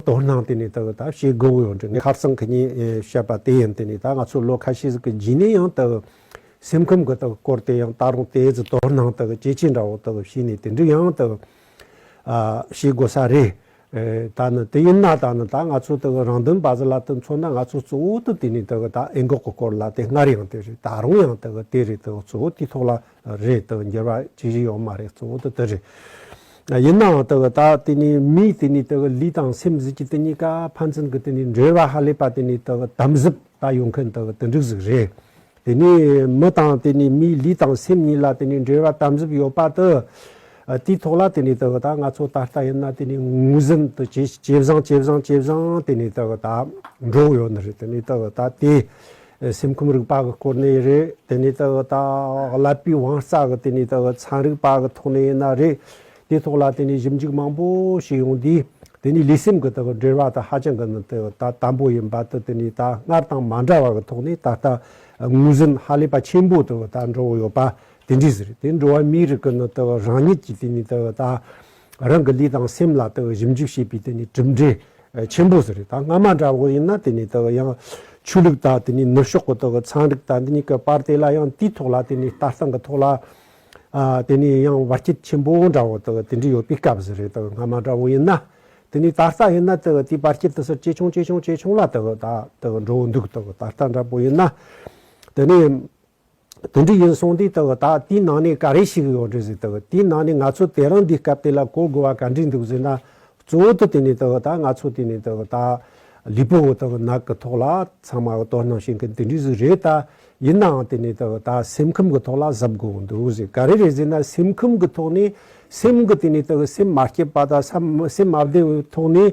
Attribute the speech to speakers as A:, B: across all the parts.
A: དོ་སྣང་དེ་ནི་དང་ད་བྱེད་དགོས་ཡོད་འདྲི་ངས་ཁ་བསང་ཁྱི་གཉིས་བཤད་པ་དེ་ཡིན་དེ་ནི་ད་ང་ཚོ་ལོ་ཁ་ཤས་ཀྱི་རྗེས་ནས་ཡང་དང་སེམས་ཁམས་གི་དང་སྐོར་དེ་ཡང་ད་རུང་དེའི་ཚོ་དོ་སྣང་དང་ཇེ་ཆེ་འདྲ་བོ་དང་བྱས་ནས་དེ་འདྲི་ཡང་དང་བྱེད་དགོས་ས་རེད་ད་ནི་དེ་ཡིན་ན་ད་ནི་ད་ང་ཚོ་དང་རང་དོན་བཟི་ལ་དང་མཚོན་ན་ང་ཚོ་གཙོ་བོ་དང་དེ་ནི་དང་ད་ཨེ་འགོག་གི་སྐོར་ལ་དེ་སྔར་ཡང་དེ་རེད་ད་རུང་ཡང་དང་དེ་རེད་དང་གཙོ་བོ་དེའི་ཐོག་ལ་རེད་དོ་འགྱུར་བ་ཅི་ཞིག་ཡོང་མ་རེད་གཙོ་བོ་དོ་དེ་རེད། ཡིན་ནའང་དེ་གི་ད་དེ་ནི་མིའི་དེ་ནི་དེ་གི་ལུས་དང་སེམས་གཟུགས་ཀྱི་དེ་གཉིས་ཀ་ཕན་ཚུན་གི་དེ་ནི་འབྲེལ་བ་ཧ་ལས་པ་དེ་ནི་དེ་གི་དམ་གཟུབ་ད་ཡོང་མཁན་དེ་གི་དེ་འགྲིག་ཟིག་རེད། དེ་ནི་མི་དང་དེ་ནི་མིའི་ལུས་དང་སེམས་གཉིས་ལ་དེ་ནི་འབྲེལ་བ་དམ་གཟུབ་ཡོད་པ་དེ་དེའི་ཐོག་ལ་དེ་ནི་དེ་གི་ད་ང་ཚོ་ད་ལྟ་ཡིན་ན་དེ་ནི་ངོས་ཟིན་དུ་ཇེ་བཟང་ཇེ་བཟང་ཇེ་བཟང་དེ་ནི་དེ་གི་ད་འགྲོ་གི་ཡོད་ནི་རེད་དེ་ནི་དེ་གི་ད་དེ་སེམས་ཁམས་རིག་པ་གི་སྐོར་ནས་རེད། དེ་ནས་ད་ལྟ་ཀླད་པའི་དབང་རྩ་གི་སྟེང་ནས་དང་ཚན་རིག་པ་གི་ཐོག་ནས་ཡིན་ན་རེད། དེའི་ཐོག་ལ་དེ་ནས་ཞིབ་འཇུག་མང་པོ་ཞིག་ཡོང་དུས་དེ་ནས་ལུས་སེམས་གི་འབྲེལ་བ་དང་ཧ་ཅང་གི་དམ་པོ་ཡིན་པ་དང་དེ་ནས་ད་སྔར་དང་མ་འདྲ་བ་གི་ཐོག་ནས་ད་ལྟ་ངོས་ཟིན་ཧ་ལས་པ་ཆེན་པོ་དང་འགྲོ་འོང་ཡོད་པ་དེ་འདྲས་རེད། དེ་འགྲོ་བ་མིའི་རིགས་གི་རང་ཉིད་ཀྱི་སྟེང་ནས་ད། རང་གི་ལུས་དང་སེམས་ལ་དེ་ཞིབ་འཇུག་བྱེད་པའི་དེ་ནི་གྲུབ་འབྲས་ཆེན་པོ་ཟེར་རེད་ད་སྔ་མ་འདྲ་བོ་ཡིན་ན་དེ་ནི་དེ་ཡང་ཆོས་ལུགས་དང་དེ་ནི་ནུབ་ཕྱོགས་ཀྱི་དེ་ཚན་རིག་དང་འདི་གཉིས་ཀྱི་བར་དེ་ལ་ཡང་དེའི་ཐོག་ལ་དེ་ནི་ལྟ་སྟངས་ཀྱི་ཐོག་ལ་དེ་ནི་ཡང་བར་ཁྱད་ཆེན་པོ་འདྲ་བོ་དེ་དེ་འདྲའི་ཡོད་པའི་སྐབས་ཟེར་རེད་ད་སྔ་མ་འདྲ་བོ་ཡིན་ན་དེ་ནི་ད་ལྟ་ཡིན་ན་དེ་དེའི་བར་ཁྱད་དུ་སར་ཇེ་ཆུང་ཇེ་ཆུང་ཇེ་ཆུང་ལ་དེ་ད་འགྲོ་འདུག་དེ་ད་ལྟ་འདྲ་བོ་ཡིན་ན་དེ་ནི། དེ་འདྲ་ཡིན་སོང་དུས་ད་ད་དེའི་ནང་ནས་ག་རེ་ཞིག་ཡོད་རེད་ཟེར་ད་དེའི་ནང་ནས་ང་ཚོ་དེ་རིང་འདི་སྐབས་དེ་ལ་གོ་དགོས་བ་ག་འདྲིག་འདུག་ཟེར་ན་གཙོ་བོ་དུ་དེ་ནས་ད་ད་ང་ཚོ་དེ་ནས་ད་ད་ལུས་པོ་ད་ནག་གི་ཐོག་ལ་ཚང་མ་དོ་སྣང་བྱེད་མཁན་དེ་འདྲིག་ཟིག་རེད་ད་ཡིན་ནའང་དེ་ནས་ད་ད་སེམས་ཁམས་གི་ཐོག་ལ་གཟབ་དགོས་འདུག་ཟེར་ག་རེ་རེད་ཟེར་ན་སེམས་ཁམས་གི་ཐོག་ནས་སེམས་གི་དེ་ནས་ད་སེམས་མ་སྐྱེད་པ་ད་སེམས་མ་བདེ་བའི་ཐོག་ནས་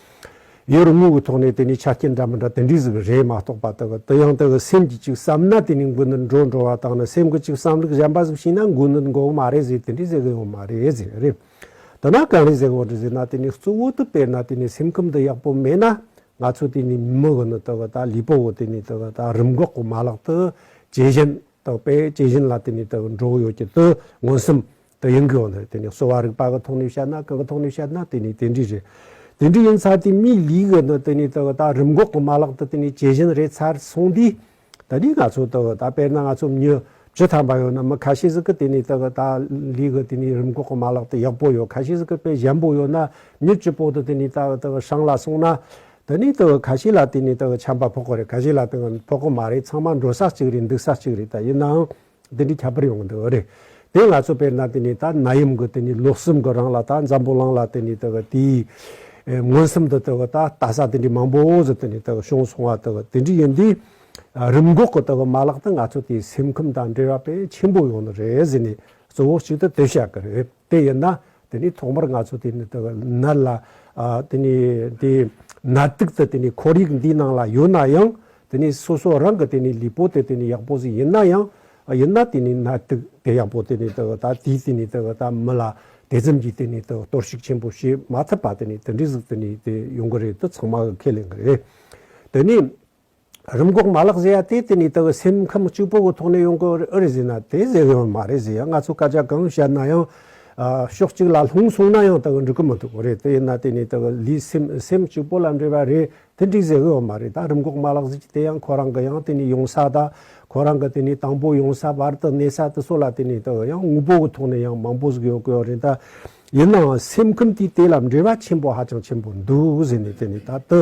A: ཡོད་རེད་དངོས་ཀྱི་ཐོག་ནས་དེ་ནི་ཆ་རྐྱེན་འདྲ་མི་འདྲ་དེ་འདྲས་ཟིག་གི་རེད་མ་གཏོགས་པ་དག་དུ་ཡང་དག་གི་སེམས་ཀྱིས་ཅིག་བསམ་ན་དེ་ནི་མགུ་ནི་འགྲོ་འགྲོ་བ་དག་ནི་སེམས་ཀྱི་ཅིག་བསམ་ལུགས་གཞན་པ་ཟིག་བྱིན་ན་མགུ་ནི་འགོ་གི་མ་རེད་ཟིག་དེ་འདྲས་ཟེར་གི་ཡོང་མ་རེད་ཟེར་གི་རེད། དེ་ན་གང་རེད་ཟེར་གི་འོ་འདྲས་ཟེར་ན་དེ་ནི་གཙོ་བོ་དུ་དཔེར་ན་དེ་ནི་སེམས་ཁམས་དུ་ཡག་པོ་མེད་ན་ང་ཚོ་དེ་ནི་མི་གི་ནི་དག་དག་ལུས་པོ་གི་དེ་ནི་དག་དག་རིམས་འགོག་གི་མ་ལག་དུ་ཇེ་ཞན་དག་པས་ཇེ་ཞན་ལ་དེ་ནི་དག་འགྲོ་གི་ཡོད་ཀྱི་དུ་མངོན་སུམ་དེ་ཡིན་གྱི་ཡོད་ན་དེ་ནི་གསོ་བ་རིག་པ་གི་ཐོག་ནས་བཤད་ན་གང་གི་ཐོག་ནས་བཤད་ན་དེ་ནི་དེ་འདྲས་རེད། དེ་འདྲས་ཡིན་ཚར་དུས་མིའི་ལུས་ཀྱི་ནང་དེ་ནི་དེ་ད་རིམས་འགོག་གི་མ་ལག་ཏུ་དེ་ནི་ཇི་བཞིན་རེད་ཚར་སོང་དུས་ད་ནི་ང་ཚོ་དེ་ད་དཔེར་ན་ང་ཚོ་མྱི་བྱི་ཐམས་པ་ཡོད་ན་མི་ཁ་ཤས་ཟིག་གི་དེ་ནི་དེ་ད་ལུས་ཀྱི་དེ་ནི་རིམས་འགོག་གི་མ་ལག་དེ་ཡག་པོ་ཡོད་ཁ་ཤས་ཟིག་གི་དཔེ་ཞན་པོ་ཡོད་ན་མྱི་སྐྱིད་པོ་དེ་དེ་ནི་ད་དེ་བྱང་ལ་སོང་ན་དེ་ནི་དེ་ཁ་ཤས་ལ་དེ་ནི་དེ་བྱམས་པ་ཕོག་གི་རེད་ཁ་ཤས་ལ་དེ་ཕོག་གི་མ་རེད་ཚང་མ་འགྲོ་ས་གཅིག་རེད་འདུག་ས་གཅིག་རེད་ད་ཡིན་ནའང་དེ་འདྲའི་ཁྱད་པར་ཡོང་གི་འདུག་རེད་དེ་ང་ཚོ་བལྟས་ན་དེ་ནི་ད་ན་ཡུམ་གྱི་དེ་ནི་ལུགས་གསུམ་གྱི་རང་ལ་ད་འཛམ་བུ་གླིང་ལ་དེ་ནི་དེ་གི་དེའི་མངོན་སུམ་དུ་དེ་གི་ད་ལྟ་ས་དེ་འདྲའི་མང་པོ་ཟིག་དེ་ནི་དེ་གི་བྱུང་སོང་བ་དེ་གི་དེ་འདྲའི་ཡིན་དུས། རིམས་འགོག་གི་དེ་གི་མ་ལག་དེ་ང་ཚོ་དེའི་སེམས་ཁམས་དང་འབྲེལ་བ་དཔེ་ཆེན་པོ་ཡོང་གི་རེད་ཟེར་ནས་གཙོ་བོ་གཅིག་དེ་དེ་བཤད་གི་རེད། དེ་ཡིན་ན་དེ་ནི་ཐོག་མར་ང་ཚོ་དེ་ནི་དེ་ནད་ལ་དེ་ནི་དེ་ནད་དུག་དེ་དེ་ནི་ཁོར་ཡུག་འདིའི་ནང་ལ་ཡོད་ན་ཡང་དེ་ནི་སོ་སོ་རང་གི་དེ་ནི་ལུས་པོ་དེ་དེ་ནི་ཡག་པོ་ཞིག་ཡིན་ན་ཡང་ཡིན་ན་དེ་ནི་ནད་དུག་དེ་ཡག་པོ་དེ་ནི་དེ་ད་དེས་དེ་ནི་དེ་ད་མི་ལ་དེ་ཙམ་གྱིས་དེ་ནི་དེ་གཏོར་བཤིག་ཆེན་པོ་བྱེད་མ་ཐུབ་པ་དེ་ནི་དེ་འདྲས་ཞིག་དེ་ནི་དེ་ཡོང་གི་རེད་དེ་ཚང་མ་གི་ཁས་ལེན་གི་རེད་དེ་ནི། རིམས་འགོག་མ་ལག་བཟོས་ཡ་དེ་དེ་ནས་ད་བར་སེམས་ཁམས་གཅིག་པོ་གི་ཐོག་ནས་ཡོང་གི་ཨེ་རེད་ཟེར་ན་དེ་ཟེར་གི་ཡོད་མ་རེད་ཟེར་ཡ་ང་ཚོས་སྐད་ཆ་གང་བཤད་ན་ཡང་ཕྱོགས་གཅིག་ལ་ལྷུང་སོང་ན་ཡང་ད་བར་འགྲིག་གི་མི་འདུག་གི་རེད་དེ་ཡིན་ན་དེ་ནས་ད་བར་ལུས་སེམས་སེམས་གཅིག་པོ་ལ་འབྲེལ་བ་རེད་དེ་འགྲིག་ཟེར་གི་ཡོད་མ་རེད་ད་རིམས་འགོག་མ་ལག་བཟོས་ཀྱི་དེ་ཡང་ཁོ་རང་གི་ཡང་དེ་ནས་ཡོང་ས་དང་ཁོ་རང་གི་དེ་ནས་དང་པོ་ཡོང་ས་བར་དུ་གནས་ས་དེ་ཚོ་ལ་དེ་ནས་ད་བར་ཡང་དངོས་པོ་གི་ཐོག་ནས་ཡང་མང་པོ་ཟིག་ཡོད་གི་ཡོད་རེད་ད། ཡིན་ནའང་སེམས་ཁམས་དེ་དེ་ལ་འབྲེལ་བ་ཆེན་པོ་ཧ་ཅང་ཆེན་པོ་འདུག་ཟེར་ནས་དེ་ནས་ད་དུ་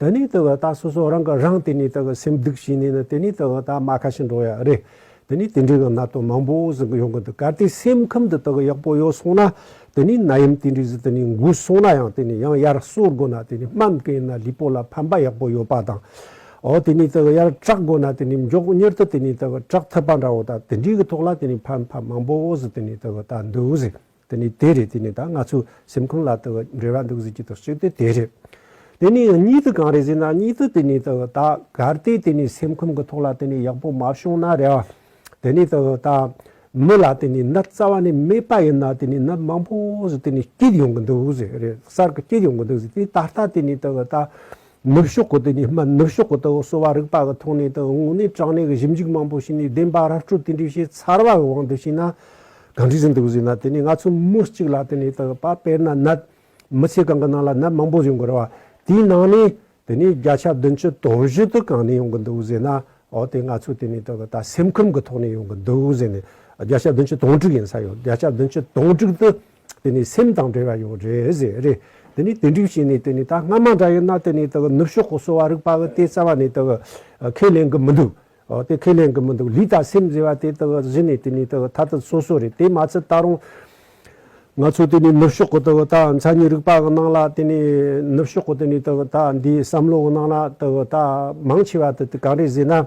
A: དེ་ནས་དེ་བས་ད་སོ་སོ་རང་གི་རང་དེ་ནས་དེ་བས་སེམས་སྡུག་བྱས་ནས་ན་དེ་ནས་དེ་བས་ད་མ་ཁ་ཞིག་འགྲོ་ཡག་རེད། དེ་ནས་དེ་འདྲའི་གི་ན་དོན་མང་པོ་ཟིག་གི་ཡོང་གི་འདུག་གལ་ཏེ་སེམས་ཁམས་དེ་དག་གི་ཡག་པོ་ཡོད་སོང་ན་དེ་ནས་ན་ཡུམ་དེ་འདྲའི་ཟིག་དེ་ནས་འགུལ་སོང་ན་ཡང་དེ་ནས་ཡང་ཡར་གསོ་དགོས་ན་དེ་ནས་སྨན་སྐེ་ཡིན་ན་ལུས་པོ་ལ་ཕན་པ་ཡག་པོ་ཡོད་པ་དང། འོ་དེ་ནས་དེ་བས་ཡར་དྲག་དགོས་ན་དེ་ནས་མགྱོགས་མྱུར་དུ་དེ་ནས་དེ་བས་དྲག་ཐུབ་པ་འདྲ་བོ་ད་དེ་འདྲའི་གི་ཐོག་ལ་དེ་ནས་ཕན་པ་མང་པོ་ཟིག་དེ་ནས་དེ་བས་ད་འདུག་ཟིག། དེ་ནི་དེ་རེད་དེ་ནི་ད་ང་ཚོའི་སེམས་ཁུང་ལ་དེ་འབྲེལ་བ་འདུག་ཟེར་གྱི་དོགས་གཅོད་དེ་དེ་རེད། དེ་ནི་གཉིས་དུ་གང་རེད་ཟེར་ན་གཉིས་དུ་དེ་ནི་དེ་ད་གར་སྟེ་དེ་ནི་སེམས་ཁུང་གི་ཐོག་ལ་དེ་ནི་ཡག་པོ་མ་བྱུང་ན་རེད། དེ་ནི་དེ་ད་མི་ལ་དེ་ནི་ནད་རྩ་བ་ནས་མེད་པ་ཡིན་ན་དེ་ནི་ནད་མང་པོ་ཟེར་དེ་ནི་སྐྱེད་ཡོང་གི་འདུག་ཟེར་རེད་གསར་གྱི་སྐྱེད་ཡོང་གི་འདུག་ཟེར་དེ་ད་ལྟ་དེ་ནི་དེ་ད་ནུབ་ཕྱོགས་གོ་ཏི་ནི་སྨད་ནུབ་ཕྱོགས་གོ་ཏི་འོག་གསོ་བ་རིག་པ་གི་ཐོག་ནས་དང་དབུང་ནས་དྲང་གནས་ཀྱི་ཞིབ་འཇུག་མང་པོ་བྱས་ནས་བདེན་པ་ར་སྤྲོད་དེ་འདྲའི་བྱས་ཚར་བ་གི་དབང་དུ་བྱས་ན། གང་དྲིས་ཟིན་དུ་བཟོས་ན་དེ་ནས་ང་ཚོ་མུ་གཅིག་ལ་དེ་ནས་དག་པ་དཔེར་ན་ནད་མི་ཚེ་གང་གི་ནང་ལ་ནད་མང་པོ་བཟོས་འགོ་ར་བ་དེའི་ནང་ནས་དེ་ནས་བརྒྱ་ཆ་བདུན་ཅུ་དོག་བཞི་དུ་གང་ནས་ཡོང་གི་འདུག་བཟས་ན་ཨོ་དེ་ང་ཚོ་དེ་ནས་དག་ད་སེམས་ཁམས་ཀྱི་ཐོག་ནས་ཡོང་གི་འདུག་བཟས་ནས་བརྒྱ་ཆ་བདུན་ཅུ་དོང་དྲུག་ཡིན་ས་ཡོད་བརྒྱ་ཆ་བདུན་ཅུ་དོང་དྲུག་དུ་དེ་ནི་སེམས་དང་འབྲེལ་བ་ཡང་རེད་ཟེར། རེད་དེ་ནི་དེ་འགྲིག་བྱས་ནས་དེ་ནི་ད་སྔ་མ་འདྲ་ཡིན་ན་དེ་ནི་དག་ནུབ་ཕྱོགས་གོ་སོ་བ་རིག་པ་གི་དེ་རྩ་བ་ནས་དག་ཁས་ལེན་གི་མི་འདུག་དེ་ཁས་ལེན་གི་མི་འདུག་ལུས་དང་སེམས་ཟེར་བ་དེ་དག་གཞི་ནས་དེ་ནི་དག་མཐའ་དག་སོ་སོ་རེད་དེ་མ་ཚད་ད་རུང་ང་ཚོ་དེ་ནི་ནུབ་ཕྱོགས་གི་དག་ད་མཚན་ཉིད་རིག་པ་གི་ནང་ལ་དེ་ནི་ནུབ་ཕྱོགས་གི་དེ་ནི་དག་ད་འདིའི་བསམ་བློ་གི་ནང་ལ་དག་ད་མང་ཆེ་བ་དེ་གང་རེད་ཟེར་ན།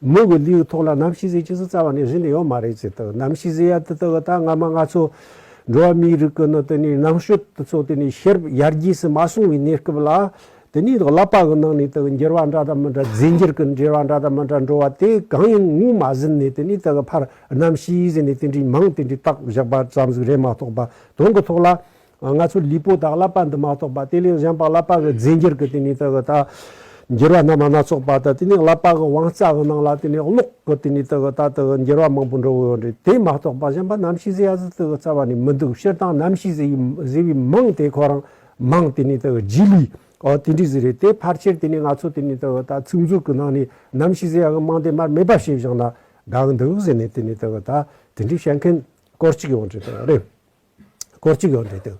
A: མོ་གི་ལུས་ཐོག་ལ་ནམ་ཞིག་ཟས་ཅི་ཟེར་རྩ་བ་ནས་ཟིན་ནི་ཡོད་མ་རེད་ཅེས་དང་ནམ་ཞིག་ཟས་ཡར་དུ་བཏགས་ད་སྔ་མ་ང་ཚོ་འགྲོ་བ་མིའི་རིགས་ཀྱི་ནང་དུ་ནི་ནང་ཤོས་དེ་ཚོ་དེ་ནི་ཤེར་ཡར་རྒྱས་སུ་མ་སོང་བའི་གནས་སྐབས་ལ་དེ་ནི་བསླབ་པ་གི་ནང་ནས་དང་འགྱུར་བ་འདྲ་དང་མི་འདྲ་རྫས་འགྱུར་གྱི་འགྱུར་བ་འདྲ་དང་མི་འདྲ་འགྲོ་བ་དེ་གང་ཡིན་ངོས་མ་ཟིན་ནས་དེ་ནི་དེ་གི་ཕར་ནམ་ཞིག་ཟིན་ནས་དེ་འདྲའི་མིང་དེ་འདྲའི་བཏགས་བཞག་པ་ཙམ་ཟིག་རེད་མ་གཏོགས་པ་དོན་གྱི་ཐོག་ལ་ང་ཚོར་ལུས་པོ་དང་བསླབ་པ་འདི་མ་གཏོགས་པ་དེ་ལས་གཞན་པ་བསླབ་པ་གི་རྫས་འགྱུར་གྱི་དེ་ནས་ད་གི་ད་འགྱུར་བ་རྣམས་སྣ་ཚོགས་པ་དང་དེ་ནས་བསླབ་པ་གི་དབང་རྩ་གི་ནང་ལ་དེ་ནས་ཀློག་གི་དེ་ནས་ད་གི་ད་ད་གི་འགྱུར་བ་མང་པོ་འགྲོ་གི་ཡོད་རེད་དེ་མ་གཏོགས་པ་གཞན་པ་གནམ་གཤིས་ཟེར་ཡ་ཟི་ད་གི་རྩ་བ་ནས་མི་འདུག་སྤྱིར་བཏང་གནམ་གཤིས་ཟེར་ཡི་ཟེར་བའི་མིང་དེ་ཁོ་རང་མང་དེ་ནས་ད་གི་རྗེས་ལུས་ཨོ་དེ་འདྲས་ཟི་རེད་དེ་ཕར་ཆེར་དེ་ནས་ང་ཚོ་དེ་ནས་ད་གི་ད་ཚིག་མཛོད་གི་ནང་ནས་གནམ་གཤིས་ཟེར་ཡ་གི་མིང་དེ་མར་མེ་འབབ་ཞེས་བཞག་ན་དགའ་གི་འདུག་ཟེར་ནས་དེ་ནས་ད་གི་ད་དེ་འདྲས་བཤད་མཁན་སྐོར་ཅིག་ཡོང་གི་རེད། སྐོར་གཅིག་ཡོད་འདུག་སྟེ།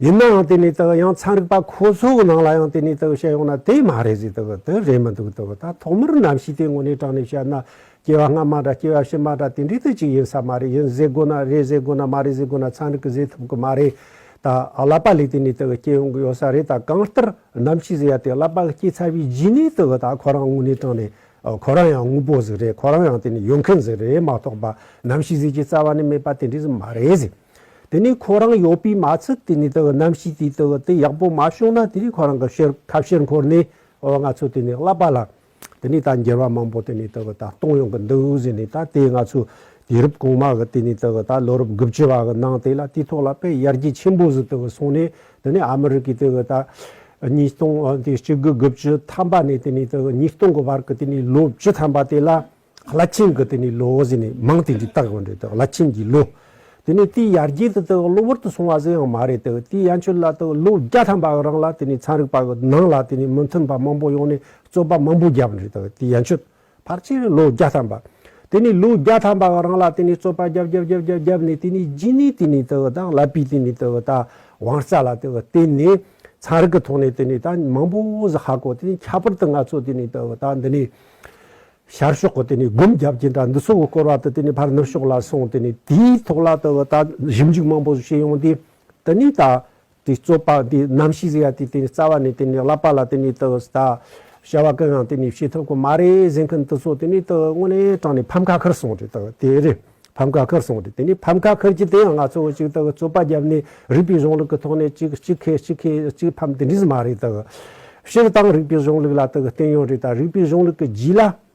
A: ཡིན་ནའང་དེ་ནི་དེ་ཡང་ཚན་རིག་པ་ཁོ་ཚོའི་ནང་ལ་ཡང་དེ་ནི་དེ་བཤད་ཡོང་ན་དེ་མ་རེད་ཟེར་དེ་དེ་རེད་མི་འདུག་དེ་ད་ཐོག་མར་གནམ་གཤིས་དེ་ངོ་ནས་དྲངས་ནས་བཤད་ན་སྐྱེ་བ་སྔ་མ་འདྲ་སྐྱེ་བ་ཕྱི་མ་འདྲ་དེ་འདྲའི་དུས་གཅིག་ཡིན་ས་མ་རེད་ཡིན་ཟེར་དགོས་ན་རེད་ཟེར་དགོས་ན་མ་རེད་ཟེར་དགོས་ན་ཚན་རིག་གིས་ཟེར་ཐུབ་གི་མ་རེད་ད། བསླབ་པ་ལས་དེ་ནི་དེ་སྐྱེ་ཡོང་གི་ཡོད་ས་རེད་ད་གང་ལྟར་གནམ་གཤིས་ཟེར་ཡ་དེ་བསླབ་པ་སྐྱེ་ཚར་བའི་རྗེས་ནས་དེ་ད་ཁོ་རང་ངོ་ནས་དྲངས་ནས་ཁོ་རང་ཡང་དངོས་པོ་ཟིག་རེད་ཁོ་རང་ཡང་དེ་ནི་ཡོད་མཁན་ཟིག་རེད་མ་གཏོགས་པ་ནམ་ཞིག་ཟིག་ཀྱི་རྩ་བ་ནས་མེད་པ་དེ་འདྲས་ཟིག་མ་རེད་ཟེར། དེ་ནི་ཁོ་རང་ཡོད་པའི་མ་ཚད་དེ་ནི་དེ་གི་གནམ་གཤིས་དེ་དེ་གི་དེ་ཡག་པོ་མ་བྱུང་ན་དེ་ནི་ཁོ་རང་གི་ཕྱིར་ཁ་ཕྱིར་འཁོར་ནས་ཨོ་ང་ཚོས་དེ་ནི་བསླབ་པ་ལ་དེ་ནི་ད་འགྱུར་བ་མང་པོ་དེ་ནི་དེ་གི་ད་གཏོང་ཡོང་གི་འདུག་ཟེར་ནས་ད་དེ་ང་ཚོས་དུས་རབས་གོང་མ་གི་དེ་ནི་དེ་གི་ད་ལོ་རབས་དགུ་བཅུ་བ་གི་ནང་དེ་ལ་དུས་ཐོག་ལ་དཔེ་ཡར་རྒྱས་ཆེན་པོ་ཟིག་དེ་གི་སོང་ནས་དེ་ནས་ཨ་མི་རི་ཀས་དེ་ད་ཉིས་སྟོང་དེ་གཅིག་དགུ་དགུ་བཅུ་ཐམ་པ་ནས་དེ་ནས་དེ་ཉིས་སྟོང་གི་བར་གྱི་དེ་ནས་ལོ་བཅུ་ཐམ་པ་དེ་ལ་བླ་ཆེན་གྱི་དེ་ནས་ལོ་ཟེར་ནས་མང་དེ་འདྲས་བཏགས་ཡོད་རེད་དེ་བླ་ཆེན་གྱི་ལོ། དེ་ནས་དེའི་ཡར་རྒྱས་དེ་དེ་གློ་བུར་དུ་སོང་བ་ཟེར་ཡང་མ་རེད་དེ་དེའི་ཡན་ཆོད་ལ་དེ་ལོ་བརྒྱ་ཐམ་པའི་རིང་ལ་དེ་ནས་ཚན་རིག་པ་གྱི་ནང་ལ་དེ་ནས་མི་མཐུན་པ་མང་པོ་ཡོང་ནས་རྩོད་པ་མང་པོ་བརྒྱབ་ཡོད་རེད་དེ་དེའི་ཡན་ཆོད། ཕག་ཕྱིར་ལོ་བརྒྱ་ཐམ་པ། དེ་ནས་ལོ་བརྒྱ་ཐམ་པ་བ་རང་ལ་དེ་ནས་རྩོད་པ་བརྒྱབ་བརྒྱབ་བརྒྱབ་བརྒྱབ་བརྒྱབ་ནས་དེ་ནས་སྦྱིན་ནི་དེ་ནས་དེ་བ་དང་ལ་པི་དེ་ནས་དེ་བ་དང་བང་རྩ་ལ་དེ་བ་བརྟེན་ནས་ཚངས་རིག་གི་ཐོག་ནས་དེ་ནས་ད་མང་པོ་ཟ་ཧ་གོ་དེ་ནས་ཁྱད་པར་དུ་ང་ཚོ་དེ་ནས་དེ་བ་དང་འདི་ནས་ཤར་ཕྱོགས་གོ་དེ་ནས་སྒོམ་བརྒྱབ་ཀྱི་འདྲ་འདི་སོ་གོ་སྐོར་བ་དུ་དེ་ནས་ཕར་ནུབ་ཕྱོགས་ལ་སོང་དེ་ནས་དེའི་ཐོག་ལ་དེ་བ་དང་ཞིབ་འཇུག་མང་པོ་བྱས་ཡོང་དེ་དེ་ནས་ད་དེ་རྩོད་པ་དེ་ནམ་ཞིག་ཟེར་ཡ་དེ་དེ་ནས་རྩ་བ་ནས་དེ་ནས་བསླབ་པ་ལ་དེ་ནས་དུ་ད་བྱ་བ་གང་ཡང་དེ་ནས་བྱེད་ཐུབ་ཁོ་མ་རེད་ཟེར་མཁན་དེ་ཚོ་དེ་ནས་དུ་དངོས་གནས་དྲང་ནས་ཕམ་ཁ་ཁུར་སོང་དེ་དག་དེ་རེད་ཕམ་ཁ་ཁུར་སོང་དེ་དེ་ནས་ཕམ་ཁ་ཁུར་གྱི་དེ་ཡང་ང་ཚོ་ཅིག་དག་རྩོད་པ་བརྒྱབ་ནས་རིགས་པའི་གཞུང་ལུགས་ཀྱི་ཐོག་ནས་ཅིག་གཅིག་ཁེ་གཅིག་ཁེ་གཅིག་ཕམ་དེ་འདྲས་མ་རེད་དུ་སྤྱིར་བཏང་རིགས་པའི་གཞུང་ལུགས་ལ་དུ་བརྟེན་ཡོད་རེད་ད་རིགས་པའི་གཞུང་ལུགས་ཀྱི་རྗེས་ལ།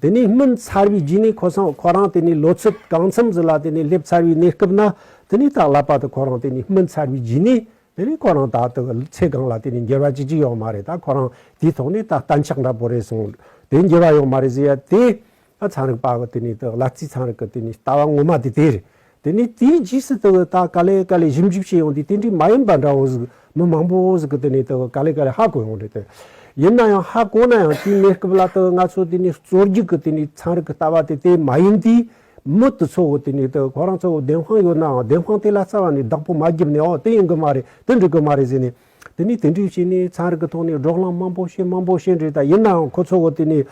A: དེ་ནས་སྨིན་ཚར་བའི་རྗེས་ནས་ཁོ་སང་ཁོ་རང་དེ་ནས་ལོ་ཚོད་གང་འཚམས་སུ་ལ་དེ་ནས་སླེབས་ཚར་བའི་གནས་སྐབས་ན་དེ་ནས་ཏག་ལ་པ་དུ་ཁོ་རང་དེ་ནས་སྨིན་ཚར་བའི་རྗེས་ནས་དེ་ནས་ཁོ་རང་ད་ལྟ་གི་ཚེ་གང་ལ་དེ་ནས་འགྱུར་བ་ཅི་ཅི་ཡོང་མ་རེད་ད་ཁོ་རང་དེའི་ཐོག་ནས་ད་གཏན་ཆགས་འདྲ་པོ་རེད་སོང་དེ་འགྱུར་བ་ཡོང་མ་རེད་ཟེར་ཡ་དེ་ད་ཚན་རིག་པ་གི་དེ་ནས་ཏག་ལ་རྩིས་ཚན་རིག་གི་དེ་ནས་ལྟ་བ་ངོ་མ་དེ་དེ་རེད། དེ་ནས་དེའི་རྗེས་སུ་དེ་ད་ག་ལེ་ག་ལེ་ཞིབ་འཇུག་བྱེད་ཡོང་དུས་དེ་འདྲའི་མ་ཡིན་པ་འདྲ་བོ་ཟིག་མི་མང་པོ་བོ་ཟིག་གི་དེ་ནས་དེ་ག་ལེ་ག་ལེ་ཧ་གོ་ཡོང་རེད་དེ། ཡིན་ན་ཡང་ཧ་གོ་ན་ཡང་དེའི་གནས་སྐབས་ལ་དེ་ང་ཚོ་དེ་ནས་རྩོད་རྒྱུག་གི་དེ་ནས་ཚན་རིག་གི་ལྟ་བ་དེ་དེ་མ་ཡིན་དུས་མི་དེ་ཚོ་དེ་ནས་དེ་ཁོ་རང་ཚོ་བདེན་དཔང་ཡོད་ནའང་བདེན་དཔང་དེ་ལ་རྩ་བ་ནས་བདག་པོ་མ་བརྒྱབ་ནའོ་དེ་ཡིན་གི་མ་རེད་དེ་འགྲིག་གི་མ་རེད་ཟེར་ནས་དེ་ནི་དེ་འདྲའི་ཞིག་ནི་ཚན་རིག་གི་ཐོག་ནས་སྒྲོག་ལམ་དམའ་པོ་ཞིག་དམའ་པོ་ཞིག་རེད་ད་ཡིན་ནའང་ཁོ་ཚོ་གོ་དེ་ནི།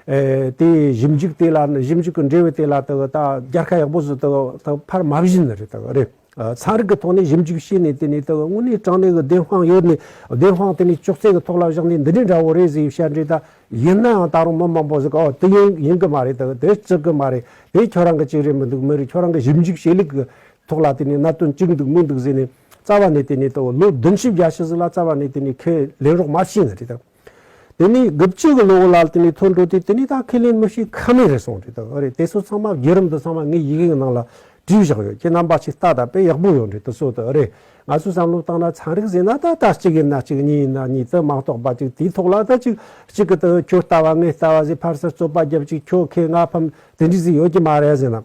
A: དེ་ཞིབ་འཇུག་དེ་ལ་ཞིབ་འཇུག་གི་འབྲེལ་བའི་དེ་ལ་དག་ད་རྒྱལ་ཁ་ཡག་པོ་ཟིག་དག་ད་ཕར་མ་བཞིན་ནི་རེད་དག་རེད། ཚན་རིག་གི་ཐོག་ནས་ཞིབ་འཇུག་བྱས་ནས་དེ་ནི་དག་དངོས་གནས་དྲང་གནས་གི་བདེན་དཔང་ཡོད་ནི་བདེན་དཔང་དེ་ནི་ཅོག་ཙེ་གི་ཐོག་ལ་བཞག་ནས་འདི་འདྲའི་འདྲ་བོ་རེད་ཟིག་བཤད་འདྲེ་ད་ཡིན་ནའང་ད་རུང་མི་མང་པོ་ཟིག་གིས་ཨོ་དེ་ཡིན་ཡིན་གི་མ་རེད་དག་དེ་ཅིག་གི་མ་རེད་དེ་ཁྱོད་རང་གི་ཅིག་རེད་མི་འདུག་མི་རེད་ཁྱོད་རང་གི་ཞིབ་འཇུག་བྱེད་ལུགས་གི་ཐོག་ལ་དེ་ནི་གནད་དོན་གཅིག་འདུག་མི་འདུག་ཟེར་ནས། རྩ་བ་ནས་དེ་ནས་དང་ལོ་བདུན་བཞི་བརྒྱ་ཕྱི་ཟིག་ལ་རྩ་བ་ནས་དེ་ནས་ཁས་ལེན་རོགས་མ་བྱིན་རེད་དང། དེ་ནས་དགུ་བཅུ་གི་ལོ་ལ་དེ་ནས་ཐོ་འགྲོ་དུས་དེ་ནས་ད་ཁས་ལེན་མི་བྱེད་ཁ་མེད་རེད་སོང་རེད་དང་ཨ་རེད་དེ་ཚོ་ཚང་མ་བརྒྱུད་རིམ་དུ་ཚང་མ་ངའི་ཡི་གེ་གི་ནང་ལ་བྲིས་བཞག་ཡོད་ཁྱེད་རྣམ་པ་ཆེ་ལྟ་ད་དཔེ་ཡག་པོ་ཡོད་རེད་དུ་གསོལ་དུ་ཨ་རེད་ང་ཚོས་བསམ་བློ་བཏང་ན་ཚན་རིག་ཟེར་ན་ད་ལྟ་གཅིག་ཡིན་ན་གཅིག་གཉིས་ཡིན་ན་གཉིས་དུ་མ་གཏོགས་པ་ཅིག་དེའི་ཐོག་ལ་ད་ཅིག་གཅིག་གི་དུ་ཁྱོད་ལྟ་བ་ངས་ལྟ་བ་ཟེར་ཕར་ཟིར་རྩོད་པ་རྒྱབ་ཅིག་ཁྱོད་ཁས་ང་ཕམ་དེ་འདྲའི་ཟིག་ཡོད་ཀྱི་མ་རེད་ཟེར་ན་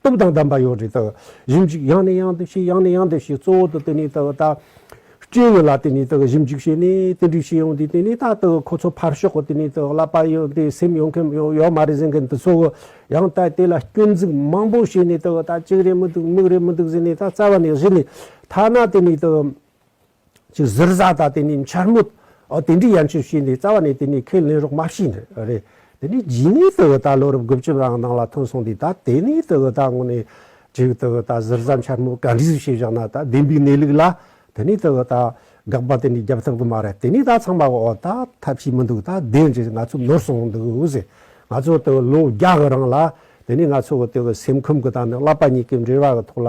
A: སྟོབས་དང་ལྡན་པ་ཡང་རེད་དོ། རིམ་གཅིག་ཡང་ནས་ཡང་དུ་བྱེད་ཡང་ནས་ཡང་དུ་བྱེད་གཙོ་བོ་དུ་དེ་ནས་དུ་བ་དག། སྐྱེ་ཡོད་ལ་དེ་ནས་དུ་རིམ་གཅིག་བྱེད་ནས་དེ་འདྲའི་བྱེད་ཡང་དེ་དེ་ནས་དག་དུ་ཁོ་ཚོ་ཕར་ཞོག་གོ་དེ་ནས་དུ་བསླབ་པ་ཡང་དེ་སེམས་ཡོང་མཁན་ཡོད་མ་རེད་ཟེར་མཁན་དུ་ཚོ་གོ། ཡང་དག་དེ་ལ་སྐྱོན་འཛུགས་མང་པོ་བྱས་ནས་དུ་བ་དག་གཅིག་རེད་མི་འདུག་མིག་རེད་མི་འདུག་ཟེར་ནས་དག་རྩ་བ་ནས་བཞི་ནས་ཐ་ན་དེ་ནས་དུ། ཅིག་གཟིར་བཟའ་དང་དེ་ནས་འཕྱར་མོད། ཨོ་དེ་འདྲའི་ཡན་ཆོད་བྱས་ནས་རྩ་བ་ནས་དེ་ནས་ཁས་ལེན་རོགས་མ་བྱས་ནས་རེད། དེ་ནས་རྗེས་ནས་དེ་བོ་ད་ལོ་རབས་དགུ་བཅུ་བའང་གནང་ལ་ཐོན་སོང་དུས་ད་དེ་ནས་དེ་བོ་ད་དངོས་ནས་ཅིག་དེ་བོ་ད་གཟིར་བཟའ་འཕྱར་མོད་ག་འདྲིས་བྱས་བཞག་ན་ད་བདེན་པའི་གནས་ལུགས་ལ་དེ་ནས་དེ་བོ་ད་དགག་པ་དེ་ནས་རྒྱབ་ཐབས་གི་མ་རེད་དེ་ནས་ད་ཚང་མ་ཨོ་ད་ཐབས་ཤེས་མི་འདུག་ད་བདེན་རེད་ང་ཚོ་ནོར་སོང་འདུག་ཟེར། ང་ཚོ་དེ་བོ་ལོ་བརྒྱ་གི་རིང་ལ་དེ་ནས་ང་ཚོ་གི་དེ་བོ་སེམས་ཁམས་གི་ད་ནི་བསླབ་པ་གཉིས་ཀའི་འབྲེལ་བ་གི་ཐོག་ལ་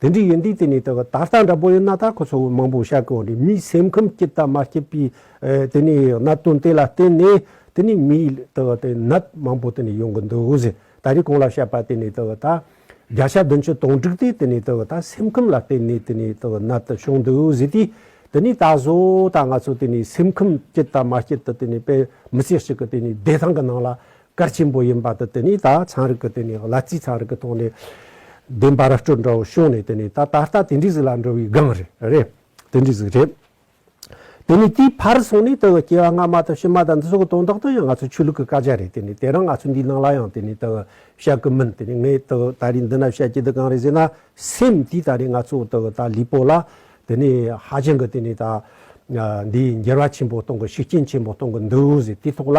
A: དེ་འདྲའི་ཡོན་ཏན་དེ་ནི་ད་ལྟ་འདྲ་པོ་ཡོད་ན་ད་ཁོ་ཚོ་མང་པོ་བཤད་དགོས་རེད་མིའི་སེམས་ཁམས་སྐྱིད་དང་མ་སྐྱིད་པའི་དེ་ནི་གནད་དོན་དེ་ལ་བརྟེན་ནས་དེ་ནི་མིའི་ནད་མང་པོ་དེ་ནི་ཡོང་གི་འདུག་ད་རེས་གོང་ལ་བཤད་པ་དེ་ནི་ད་བརྒྱ་ཆ་བདུན་ཅུ་སྟོང་བསྒྲིགས་ཏེ་དེ་ནི་ད་སེམས་ཁམས་ལ་བརྟེན་ནས་དེ་ནི་ནད་དེ་བྱུང་འདུག་ཟེར་དུས་དེ་ནི་ད་བཟོ་ད་ང་ཚོ་དེ་ནི་སེམས་ཁམས་སྐྱིད་དང་མ་སྐྱིད་དེ་ནི་དཔེ་མི་སེར་ཞིག་གི་དེ་ནི་བདེ་ཐང་གི་ནང་ལ་སྐར་ཆེན་པོ་ཡིན་པ་དེ་དེ་ནི་ད་ཚངས་རིག་གི་དེ་ནི་གླ་རྩིས་ཚངས་རིག་གི་ཐོག་ནས་བདེན་པ་ར་སྤྲོད་འདྲ་བོ་བྱུང་ནས་དེ་ནི་ད་ད་ལྟ་དེ་འདྲའི་གཟུགས་ལ་འགྲོ་བའི་སྒང་རེད་རེད་དེ་འདྲའི་གཟུགས་རེད། དེ་ནི་དེའི་ཕར་སོང་ནས་དེ་གི་སྐྱེ་བ་སྔ་མ་དང་ཕྱི་མ་དང་འདི་ཚོ་གི་དོན་དག་ཏུ་ཡང་ང་ཚོ་ཆོས་ལུགས་ཀྱི་བཀའ་རྒྱ་རེད་དེ་ནི་དེ་རང་ང་ཚོ་འདིའི་ནང་ལ་ཡང་དེ་ནི་དེ་གི་བཤད་གི་མིན་དེ་ནི་ངས་དེ་གི་ད་རིང་འདི་ན་བཤད་ཀྱི་འདི་གང་རེད་ཟེར་ན་སེམས་དེ་ད་རིང་ང་ཚོ་དེ་གི་ད་ལུས་པོ་ལ་དེ་ནི་ཧ་ཅང་གི་དེ་ནི་ད་འདིའི་འགྱུར་བ་ཆེན་པོ་གཏོང་གི་ཤུགས་རྐྱེན་ཆེན་པོ་གཏོང་གི་འདུག་ཟེར་དེའི་ཐོག་ལ་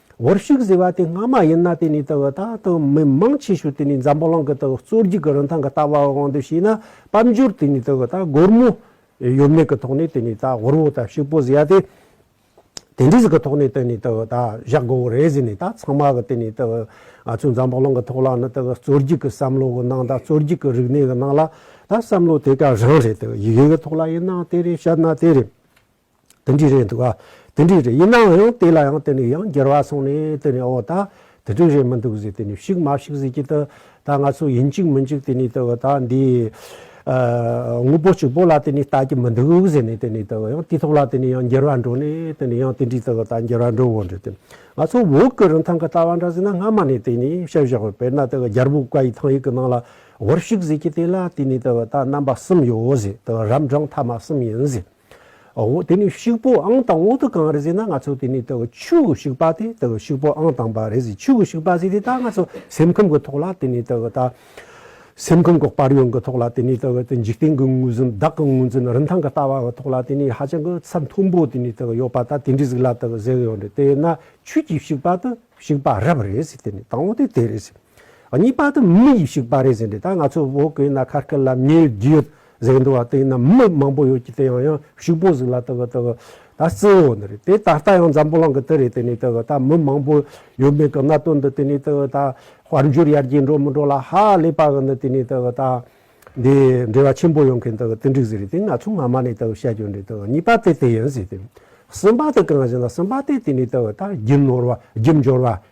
A: བར་ཤུགས་ཟེར་བ་དེ་སྔ་མ་ཡིན་ན་དེ་ནི་ད་ལྟ་དང་མི་མང་ཆེ་ཤོས་དེ་ནི་འཛམ་བུ་གླིང་གི་གཙོ་རྒྱུགས་ཀྱི་རིན་ཐང་གི་ལྟ་བའི་དབང་དུ་བྱས་ན་དཔལ་འབྱོར་དེ་ནི་ད་ལྟ་སྒོར་མོ་ཡོད་མེད་ཀྱི་ཐོག་ནས་དེ་ནི་ད་ཧོར་བོ་དང་ཕྱུག་པོ་ཟེར་བ་དེ་དེ་འདྲས་ཀྱི་ཐོག་ནས་དེ་ནི་ད་ལྟ་བཞག་དགོས་པ་རེད་ཟེར་ནས་ད་ཚང་མ་གི་དེ་ནི་ད་ང་ཚོའི་འཛམ་བུ་གླིང་གི་ཐོག་ལ་ནི་ད་གཙོ་རྒྱུགས་ཀྱི་བསམ་བློ་གི་ནང་ད་གཙོ་རྒྱུགས་ཀྱི་རིག་གནས་ཀྱི་ནང་ལ་ད་བསམ་བློ་དེ་ག་རང་རེད་ད་ཡི་གེ་གི་ཐོག་ལ་ཡིན་ན་དེ་རེད་བཤད་ན་དེ་རེད། དེ་འདྲའི་རེད་འདུག་ཨ། དེ་འདྲའི་རེད་ཡིན་ནའང་ཡང་དེ་ལ་ཡང་དེ་ནས་ཡང་འགྱུར་བ་སོང་ནས་དེ་ནས་ཨོ་ད་དེ་འདྲའི་རེད་མི་འདུག་ཟེར་དེ་ནས་ཕྱུགས་མ་ཕྱུགས་ཟེར་གྱི་དུ་ད་ང་ཚོ་ཡིན་གཅིག་མིན་གཅིག་དེ་ནས་དུ་ད་འདི་དངོས་པོ་གཅིག་པོ་ལ་དེ་ནས་ལྟ་གི་མི་འདུག་ཟེར་ནས་དེ་ནས་དུ་ཡང་དུས་ཐོག་ལ་དེ་ནས་ཡང་འགྱུར་བ་འགྲོ་ནས་དེ་ནས་ཡང་དེ་འདྲའི་དུ་ད་འགྱུར་བ་འགྲོ་འོང་འགྲོ་དེ། ང་ཚོ་འོག་གི་རིན་ཐང་གི་ལྟ་བ་འདྲ་ཟེར་ན་སྔ་མ་ནས་དེ་ནས་བཤད་བཞག་པ་དཔེར་ན་དེ་རྒྱལ་པོ་བཀའ་ཡི་ཐང་ཡིག་གི་ནང་ལ་བར་ཕྱུགས་ཟེར་གྱི་དེ་ལ་དེ་ནས་དུ་ད་རྣམ་པ་གསུམ་ཡོད་ཟེར་དུ་རབ་འབྲང་ཐ་མ་གསུམ་ཡིན་ཟེར། འོ་དེ་ནི་ཤུག་པོ་ཨང་དང་བོ་དེ་གང་རེད་ཟེར་ན་ང་ཚོ་དེ་ནི་དེ་གི་ཆུ་གི་ཤུག་པ་དེ་དེ་གི་ཤུག་པོ་ཨང་དང་པ་རེད་ཟེར་ཆུ་གི་ཤུག་པ་ཟེར་དེ་ད་ང་ཚོ་སེམས་ཁམས་གི་ཐོག་ལ་དེ་ནི་དེ་གི་ད་སེམས་ཁམས་གི་དཔར་ཡོང་གི་ཐོག་ལ་དེ་ནི་དེ་གི་འཇིག་རྟེན་གི་དངོས་ཟོན་བདག་གི་དངོས་ཟོན་རིན་ཐང་གི་ལྟ་བ་གི་ཐོག་ལ་དེ་ནི་ཧ་ཅང་གི་ཚད་མཐོན་པོ་དེ་ནི་དེ་གི་ཡོད་པ་ད་དེ་འདྲའི་ཟིག་ལ་དེ་གི་ཟེར་ཡོང་རེད་དེ་ཡོད་ན་ཆུ་གི་ཤུག་པ་དེ་ཤུག་པ་རབ་རེད་ཟེར་དེ་ནི་དང་བོ་དེ་དེ་རེད་ཟེར་གཉིས་པ་དེ་མི་ཡི་ཤུག་པ་རེད་ཟེར་འདི་ད་ང་ཚོ་བོད་གི་ན་ཁ་སྐད་ལ་མིའི་རྒྱུད་གཟེགས་འདུ་བ་སྟེང་ན་མི་མང་པོ་ཡོད་ཀྱི་དེ་ཡང་ཡང་ཕྱུག་པོ་ཟིག་ལ་དག་དག་ད་རྩི་འོ་ན་རེད་དེ་ད་ལྟ་ཡང་འཛམ་བུ་གླང་གི་དེ་རེད་དེ་ནས་དག་ད་མི་མང་པོ་ཡོད་མེད་ཀྱི་གནའ་དོན་འདི་དེ་ནས་དག་ད་དཔལ་འབྱོར་ཡར་རྒྱས་འགྲོ་མི་འགྲོ་ལ་ཧ་ལས་པ་གི་འདི་དེ་ནས་དག་ད་འདི་འབྲེལ་བ་ཆེན་པོ་ཡོང་མཁན་དག་དེ་འགྲིག་ཟིག་རེད་དེ་ང་ཚོ་སྔ་མ་ནས་དག་བཤད་རྒྱུ་འདི་དག་གཉིས་པ་དེ་དེ་ཡིན་ཟིག་དེ་གསུམ་པ་དེ་གང་ཞིག་ན་གསུམ་པ་དེ་དེ་ནས་དག་ད་རྒྱུ་ནོར་བ་རྒྱུ་འབྱོར་བ་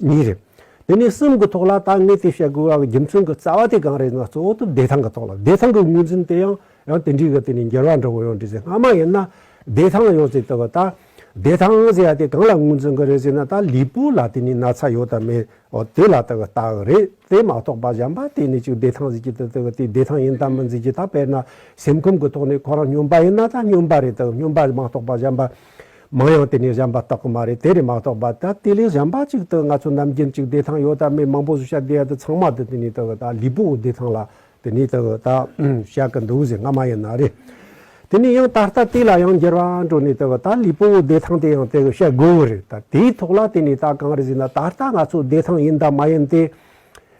A: གཉིས་རེད། དེ་ནས་གསུམ་གྱི་ཐོག་ལ་ད་ངས་དེ་བཤད་དགོས་པའི་རྒྱུ་མཚན་གྱི་རྩ་བ་དེ་གང་རེད་ན་གཙོ་བོ་དུ་བདེ་ཐང་གི་ཐོག་ལ་བདེ་ཐང་གི་ངོས་འཛིན་དེ་ཡང་ཡང་དེ་འདྲའི་ག་དུས་ནས་འགྱུར་བ་འགྲོ་གི་ཡོད་འགྲོ་ཚེ་སྔ་མ་ཡིན་ན་བདེ་ཐང་ཡོད་ཚེ་ལྟ་བུ་ད་བདེ་ཐང་ཟེར་བ་དེ་གང་ལ་ངོས་འཛིན་གི་རེད་ཟེར་ན་ད་ལུས་པོ་ལ་དེ་ནས་ན་ཚ་ཡོད་དམ་མེད་དེ་ལ་ལྟ་བུ་ལྟ་གི་རེད་དེ་མ་གཏོགས་པ་གཞན་པ་དེ་ནས་ཅིག་བདེ་ཐང་ཟེར་གྱི་དེ་ལྟ་བུ་དེ་བདེ་ཐང་ཡིན་དམ་མིན་ཟེར་གྱི་ད་དཔེར་ན་སེམས་ཁམས་གྱི་ཐོག་ནས་ཁོ་རང་སྨྱོན་པ་ཡིན་ན་ད་སྨྱོན་པ་རེད་དམ་སྨྱོན་པ་མ་གཏོགས་པ་གཞན་པ་མང་ཡང་དེ་ནི་གཞན་པ་རྟག་གི་མ་རེད་དེ་རེད་མ་གཏོགས་པ་ད་དེ་ལས་གཞན་པ་ཅིག་ཏུ་ང་ཚོ་རྣམས་རྒྱན་གཅིག་བདེ་ཐང་ཡོད་ད་མི་མང་པོ་བཟོ་བྱ་དེ་ད་ཚང་མ་དེ་དེ་ནི་ད་གི་ད་ལུས་པོ་བདེ་ཐང་ལ་དེ་ནི་ད་གི་ད་བཤད་གི་འདུག་ཟེར་ང་མ་ཡིན་ན་རེད་དེ་ནི་ཡང་ད་ལྟ་དེ་ལ་ཡང་འགྱུར་བ་འགྲོ་ནི་ད་གི་ད་ལུས་པོ་བདེ་ཐང་དེ་ཡང་དེ་གི་བཤད་དགོས་གི་རེད་ད་དེའི་ཐོག་ལ་དེ་ནི་ད་གང་རེད་ཟེར་ན་ད་ལྟ་ང་ཚོ་བདེ་ཐང་ཡིན་ད་མ་ཡིན་དེ་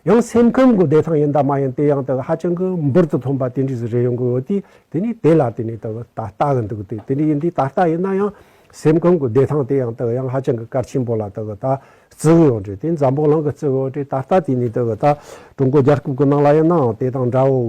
A: ཡང་སེམས་ཁམས་ཀྱི་བདེ་ཐང་ཡིན་དང་མ་ཡིན་དེ་ཡང་དག་ཧ་ཅང་གི་འབུར་དུ་ཐོན་པ་དེ་འདྲས་སུ་རེ་ཡོང་གི་ཡོད་དུས་དེ་ནི་དེ་ལ་དེ་ནི་དག་ད་ལྟ་གི་འདུག་དུས་དེ་འདྲས་ཡིན་དུས་ད་ལྟ་ཡིན་ན་ཡང་སེམས་ཁམས་ཀྱི་བདེ་ཐང་དེ་ཡང་དག་ཡང་ཧ་ཅང་གི་གལ་ཆེན་པོ་ལ་དག་ད་བརྩི་གི་ཡོད་འདྲས་དེ་འཛམ་བུ་གླང་གི་བརྩི་གི་ཡོད་འདྲས་ད་ལྟ་དེ་ནི་དག་ད་ཀྲུང་གོ་རྒྱལ་ཁབ་ཀྱི་ནང་ལ་ཡིན་ནའང་དེ་དང་འདྲའོ།